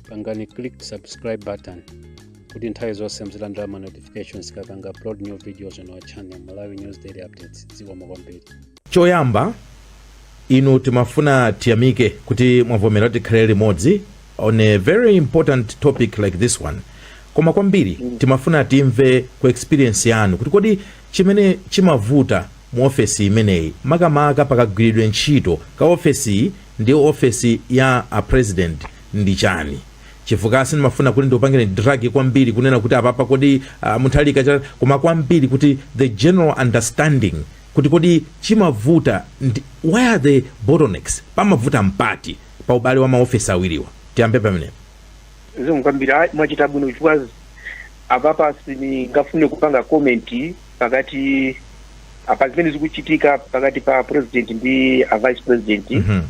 pangani click subscribe button kuti nthawi zonse muzilandira ma notifications tikapanga upload new videos on our channel malawi news daily updates zikomo kwambiri choyamba inu timafuna tiyamike kuti mwavomera tikhale limodzi on a very important topic like this one koma kwambiri timafuna timve ku experience yanu kuti kodi chimene chimavuta mu ofesi imeneyi makamaka pakagwiridwe ntchito ka ofesiyi ndi office ya a president ndi chani chifukwa sindimafuna kuti ndikupangireni drag kwambiri kunena kuti apapa kodi uh, mutharika cha koma kwambiri kuti the general understanding kuti kodi chimavuta ndi where are the bottlenecks pamavuta mpati pa ubale wa maofesi awiriwa tiyambe pamenepo zikomo kwambiri ayi mwachita bwino chifukwa apapa sindingafune kupanga komenti pakati apa zimene zikuchitika pakati pa president ndi a vice president Mhm.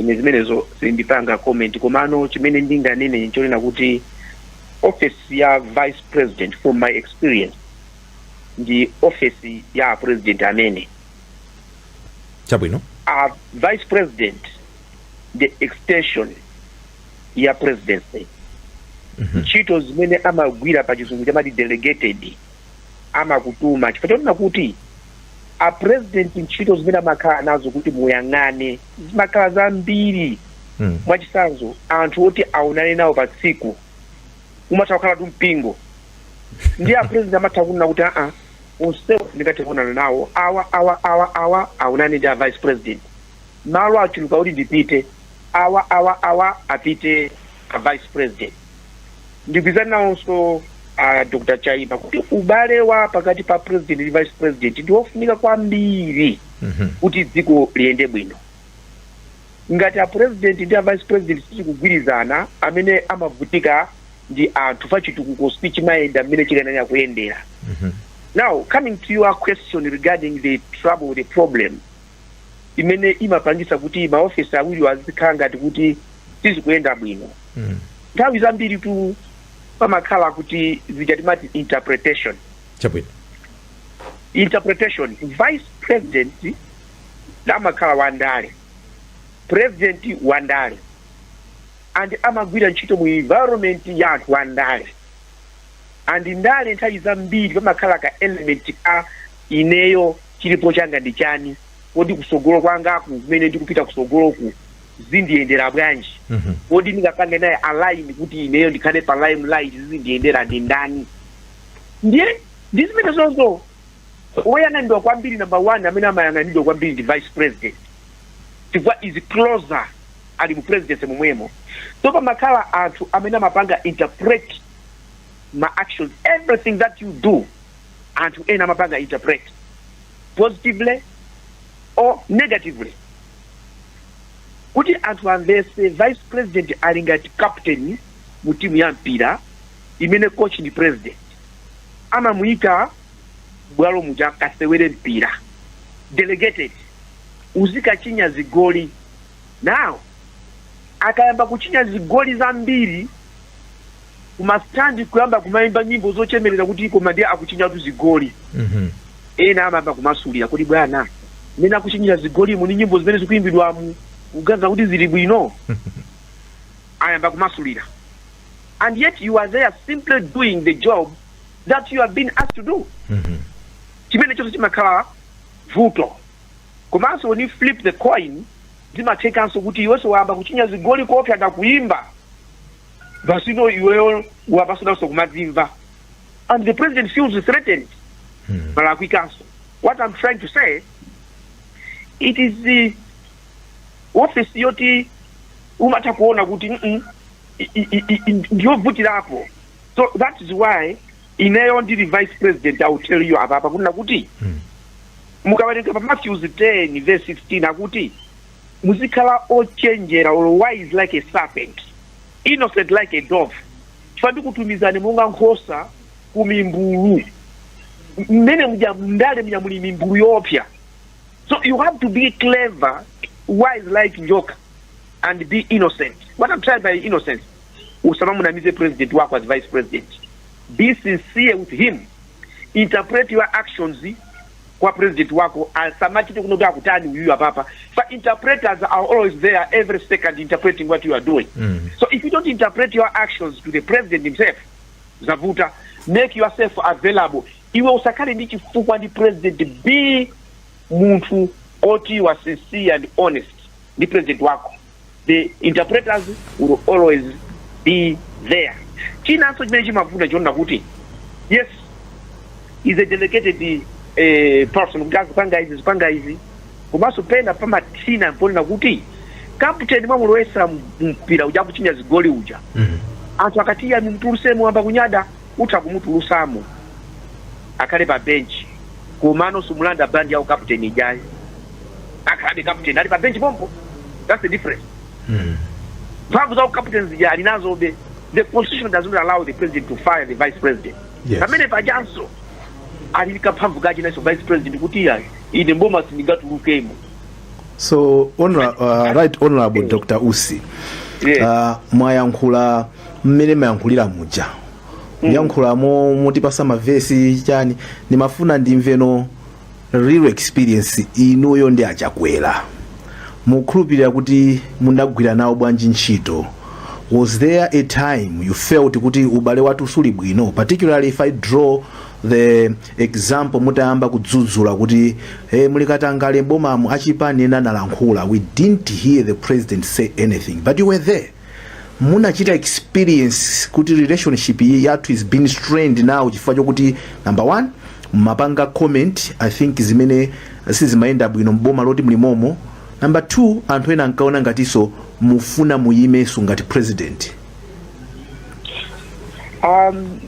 ine zimenezo sindipanga comment komano chimene ndinganene nchonena kuti office ya vice president from my experience ndi office ya president amene chabwino a vice president ndi extension ya presidency Mhm. ntchito zimene amagwira pa chizungu timati delegated amakutuma chifukwa chonena kuti a president ntchito zimene amakhala nazo kuti muyang'ane zimakhala zambiri Mm. mwachitsanzo anthu oti aonane nawo pa tsiku umatha kukhala tu mpingo ndiye a president amatha kunena kuti aa onsewo sindingathe kuonana nawo awa awa awa awa aonane ndi a vice president malo achuluka kuti ndipite awa awa awa apite a vice president ndigwirizana nawonso uh, dr chaima kuti ubale wa pakati pa president ndi vice president ndi wofunika kwambiri Mhm. kuti dziko liyende bwino ngati a president ndi a vice president sizikugwirizana amene amavutika ndi anthu chifukwa chitukuko sichimayenda mmene chikanayenera kuyendera Mhm. now coming to your question regarding the trouble the problem imene imapangitsa kuti maofesi awiriwo azikhala ngati kuti sizikuyenda bwino Mm. nthawi zambiritu pamakhala kuti zija timati interpretation chabwino interpretation vice president amakhala wandale president wandale and amagwira ntchito mu environment ya anthu wandale and ndale nthawi zambiri pamakhala ka element ka ineyo Chilipo changa ndi chani? Kodi kusogolo kwangaku kumene ndikupita kusogoloku zindiyendera bwanji? Kodi ndingapange naye align kuti ineyo ndikhale pa limelight zizindiyendera ndi ndani? Ndiye ndi zimenezozo woyang'anidwa kwambiri number one amene amayang'anidwa kwambiri ndi vice president chifukwa is closer ali mu presidency momwemo so pamakhala anthu amene amapanga interpret ma actions everything that you do anthu ena amapanga interpret positively or negatively kuti anthu amvese vice president ali ngati captain mu timu ya mpira imene coach ndi president amamuyika m'bwalo muja kasewere mpira delegated uzikachinya zigoli now akayamba kuchinya zigoli zambiri kumastandi kuyamba kumayimba nyimbo zochemerera kuti koma ndiye akuchinyatu zigoli Mhm. ena amayamba kumasulira kuti bwana mmene akuchinyira zigolimu ni nyimbo zimene zikuyimbidwa mukuganiza kuti zili bwino ayamba kumasulira and yet you are there simply doing the job that you have been asked to do Mhm. chimenechonso chimakhala vuto komanso when you flip the coin Zimathekanso kuti iwenso wayamba kuchinya zigoli koopsa ndakuyimba basino iweyo wayamba sunanso kumadzimva and the president feels threatened Hmm. palakwikanso what i'm trying to say it is the office yoti umatha kuona kuti "Mm-mm, i- i- i- i- ndiyovutirapo so that is why ineyo ndili vice president i will tell you apa apa kunena kuti mukawerenga pa matthews 10 verse 16 akuti muzikhala ochenjera or wise like a serpent innocent like a dove chifukwa ndikutumizani monga nkhosa ku mimbulu mmene muja mndale muja muli mimbulu yoopsa so you have to be clever wise like njoka and be innocent what i'm trying by innocence usamamunamize president wako as vice president be sincere with him interpret your actions kwa president wako asamachite kuno kuti akutani uyuyu apapa fa interpreters are always there every second interpreting what you are doing Mm. so if you don't interpret your actions to the president himself zavuta make yourself available iwe usakhale ndi chifukwa ndi president be munthu oti you are sincere and honest ndi president wako the interpreters will always be there chinanso chimene chimavuta chonena kuti yes is a delegated eh, person kuti azipanga izi zipanga izi komanso pena pamathina ponena kuti kaputeni mwamulowesa mumpira uja akuchinya zigoli uja Mhm. anthu akati iya mumtulusemo ayamba kunyada utha kumutulusamo akhale pa benchi komano sumulanda bandi ya ukaputeni ijayi akhalabe captain ali pa bench pompo that's the difference mm. mphamvu za captain zija ali nazobe the constitution does not allow the president to fire the vice president yes. pamene pajanso ali kaphamvu kachi nacho vice president kuti ya ine mboma sindingatulukemo so honor, uh, right honorable yeah. dr usi yeah. uh, mwayankhula mmene mwayankhulira muja mm. mwayankhula mwatipatsa mavesi chani ndimafuna ndimveno real experience inuyo ndi achakwera mukukhulupirira kuti munagwira nawo bwanji ntchito was there a time you felt kuti ubale wathu suli bwino particularly if i draw the example mutayamba kudzudzula kuti hey, muli katangale mbomamu achipani ena analankhula we didn't hear the president say anything but you were there munachita experience kuti relationship yathu has been strained now chifukwa chokuti number one mumapanga comment i think zimene sizimayenda bwino mboma loti mlimomo number two anthu ena ankaona ngatinso mufuna muyimenso ngati president um,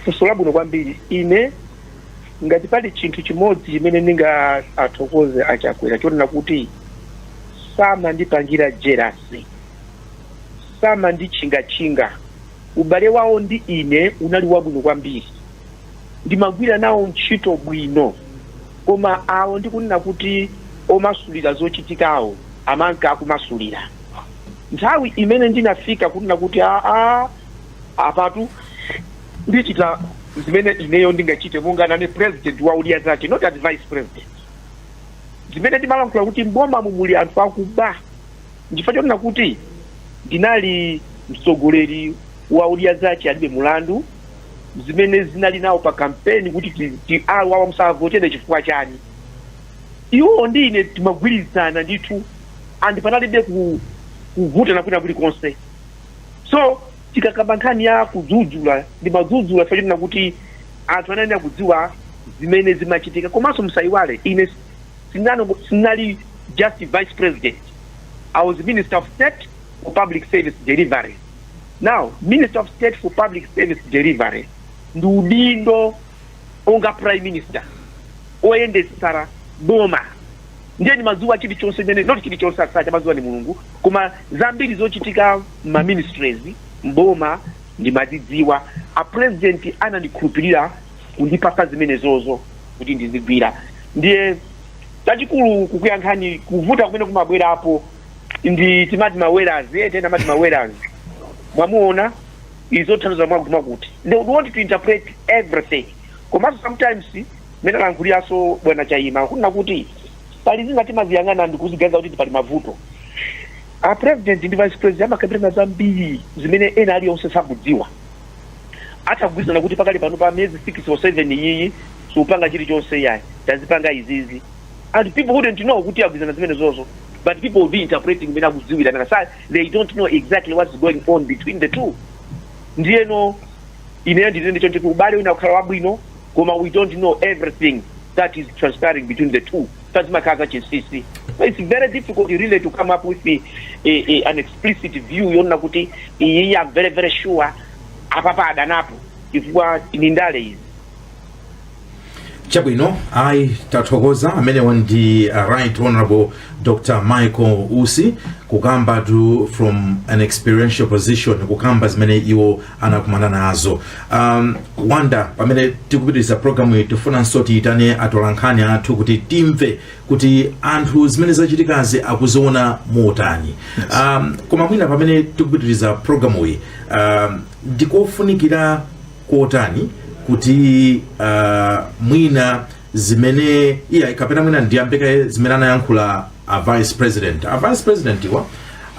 funso labwino kwambiri ine ngati pali chinthu chimodzi chimene ndingathokoze achakwera chonena kuti samandipangira jerasi samanditchingatchinga. Ubale wawo ndi ine unali wabwino kwambiri. Ndimagwira nawo ntchito bwino. Koma awo ndi kunena kuti omasulira zochitikawo amanka akumasulira. Nthawi imene ndinafika kunena kuti aa, apatu ndichita zimene ineyo ndingachite monga ndine president wa Odya Zake, not as vice president. Zimene ndimalankhula kuti m'bomamu muli anthu akuba. Nchifukwa chonena kuti ndinali mtsogoleri wa Odya Zache Alibe Mulandu zimene ndinali nawo pa kampeni kuti ti, ti awa awa musawavotele chifukwa chani iwo ndi ine timagwirizana ndithu and panalibe ku, kuvutana kwina kulikonse so tikakamba nkhani ya kudzudzula ndimadzudzula chifukwa chonena kuti anthu anayenera kudziwa zimene zimachitika komanso musayiwale ine sinango- sinali just vice president i was minister of state for public service delivery now minister of state for public service delivery ndi udindo wonga prime minister oyendetsera boma ndiye ndimadziwa chilichonse imene not chilichonse zonse amadziwa ni mulungu koma zambiri zochitika ma ministries mboma ndimazidziwa a president anandikhulupirira kundipatsa zimenezozo kuti ndizigwira ndiye chachikulu kukuyankhani kuvuta kumene kumabwerapo ndi timati ma way laz eti ena amati ma way laz mwamuona zikutanthauza mwakuti mwakuti they would want to interpret everything komanso sometimes mene alankhuliranso bwana chaima kunena kuti pali zina timaziyang'ana ndi kuziganiza kuti tipali mavuto a president ndi vice president amakambirana zambiri zimene ena aliyonse sakudziwa atha kugwirizana kuti pakali pano pa miyezi 6 or 7 iyiyi siupanga chilichonse yayi tadzipanga izizi and people wouldn't know kuti agwirizana zimenezozo but people will be interpreting mmene akudziwira nanga si they don't know exactly what's going on between the two ndiyeno ineyo nditenge choncho kuti ubale mwina ukhala wabwino koma we don't know everything that is transpiring between the two zina zimakhala za chinsisi so it's very difficult really to come up with a, a, a, an explicit view yonena kuti iyi am very very sure apapa adanapo chifukwa ndi ndale izi chabwino ayi tathokoza amenewo ndi uh, right honorable dr michael usi kukambatu from an experiential position kukamba zimene iwo anakumana nazo um, wanda pamene tikupitiriza programu iyi tifunanso tiitane atolankhani athu kuti timve kuti anthu zimene zachitikazi akuziona motani um, koma mwina pamene tikupitiriza programu iyi um, ndikofunikira kotani kuti uh, mwina zimene iyayi kapena mwina ndiyambe kaye zimene anayankhula a vice president a vice president wa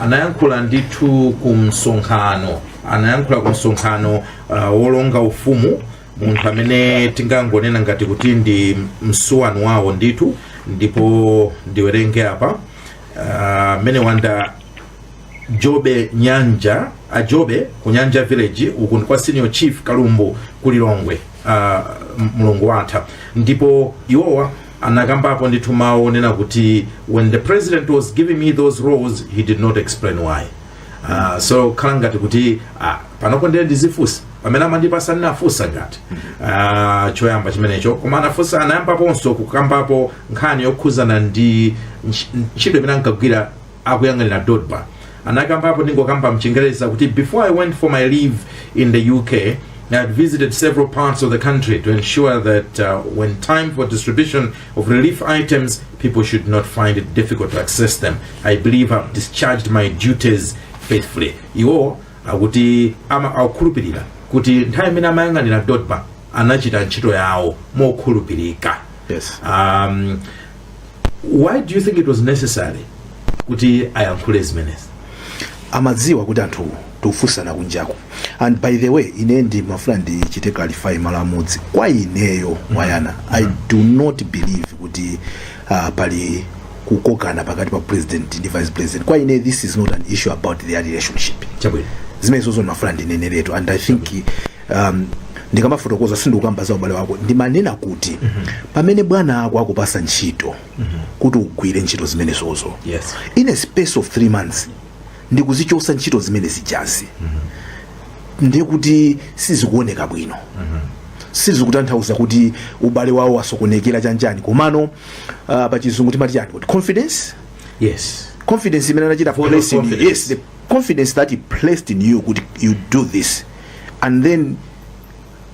anayankhula ndithu ku msonkhano anayankhula ku msonkhano uh, wolonga ufumu munthu amene tingangonena ngati kuti ndi msuwani wawo ndithu ndipo ndiwerenge apa uh, mmene wanda njobvunjanja a njobvunjanja village uku ndi kwa senior chief kalumbu ku lilongwe uh, mlungu watha ndipo iwowa anakambapo ndithu mawu onena kuti when the president was giving me those roles he did not explain why uh, sizikhala ngati kuti uh, panopo ndiye ndizifunsa pamene amandipatsa sindinafunse ngati uh, choyamba chimenecho koma anafunsa anayambaponso kukambapo nkhani yokhuzana ndi ntch- ntchito imene ankagwira akuyang'anira dodma anakambapo ndingokamba mchingereza kuti before i went for my leave in the uk i had visited several parts of the country to ensure that uh, when time for distribution of relief items people should not find it difficult to access them i believe i've discharged my duties faithfully iwo akuti akukhulupirira kuti nthawi imene amayang'anira dodma anachita ntchito yawo mokhulupirika Yes. um, why do you think it was necessary kuti ayankhule zimenezi amadziwa kuti anthu tikufunsana kunjako and by the way ine ndimafuna ndichite clarify malo amodzi kwa ineyo wayana i do not believe kuti uh, pali kukokana pakati pa president ndi vice president kwa ine this is not an issue about their relationship chabwino zimenezo zomwe ndimafuna ndineneretu and i think um, ndikamafotokoza sindikukamba za ubale wawo ndimanena kuti pamene bwana ako akupatsa ntchito kuti ugwire ntchito zimenezozo Yes. in a space of three months ndikuzichotsa ntchito zimene zijazi ndiye kuti sizikuoneka bwino sizikutanthauza kuti ubale wawo wasokonekera chanjani komano uh, pa chizungu timati chani kuti confidence Yes. confidence imene anachita Full of place in you. confidence. yes the confidence that he placed in you kuti you do this and then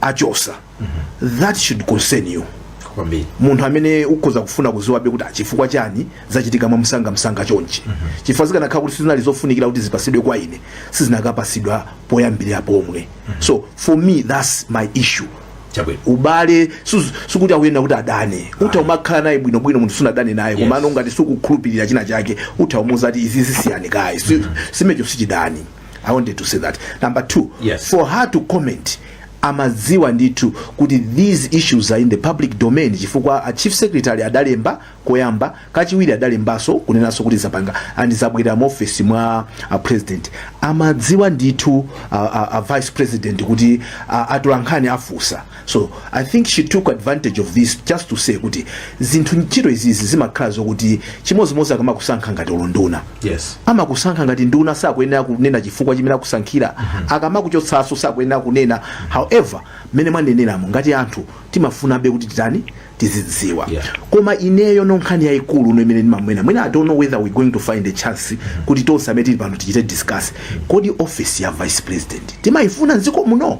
achotsa mm -hmm. that should concern you munthu amene ukhoza kufuna kudziwabe kuti chifukwa ah, chani zachitika mwa msanga msanga chonchi mm -hmm. chifukwa zikanakhala kuti sizinali zofunikira kuti zipatsidwe kwa ine sizikanapatsidwa poyambirira pomwe mm -hmm. so for me that's my issue Chabwino. ubale sukuti akunena kuti adane utha umakhala naye bwino bwino munthu sunadane naye yes. komano ngati sukukhulupirira china chake utha umuza ati izi zisiyani kaye mm -hmm. chimenecho sichidani i wanted to say that number two Yes. for her to comment amadziwa ndithu kuti these issues are in the public domain chifukwa a chief secretary adalemba koyamba kachiwiri adalembanso kunenanso kuti zapanga and zabwerera mu office mwa a president amadziwa ndithu a, a, a vice president kuti a, atolankhani afunsa so i think she took advantage of this just to say kuti zinthu ntchito izizi zimakhala zokuti chimodzimodzi akamakusankha ngati unduna yes amakusankha ngati nduna sakuyenera kunena chifukwa chimene akusankhira akamakuchotsanso sakuyenera kunena however mmene mwaneneramo ngati anthu timafunabe kuti titani tizidziwa Yeah. koma ineyo nkhani yayikulu imene ndimaona mwina i don't know whether we're going to find a chance kuti tonse amene tili pano tichite discuss kodi office ya vice president timayifuna mdziko muno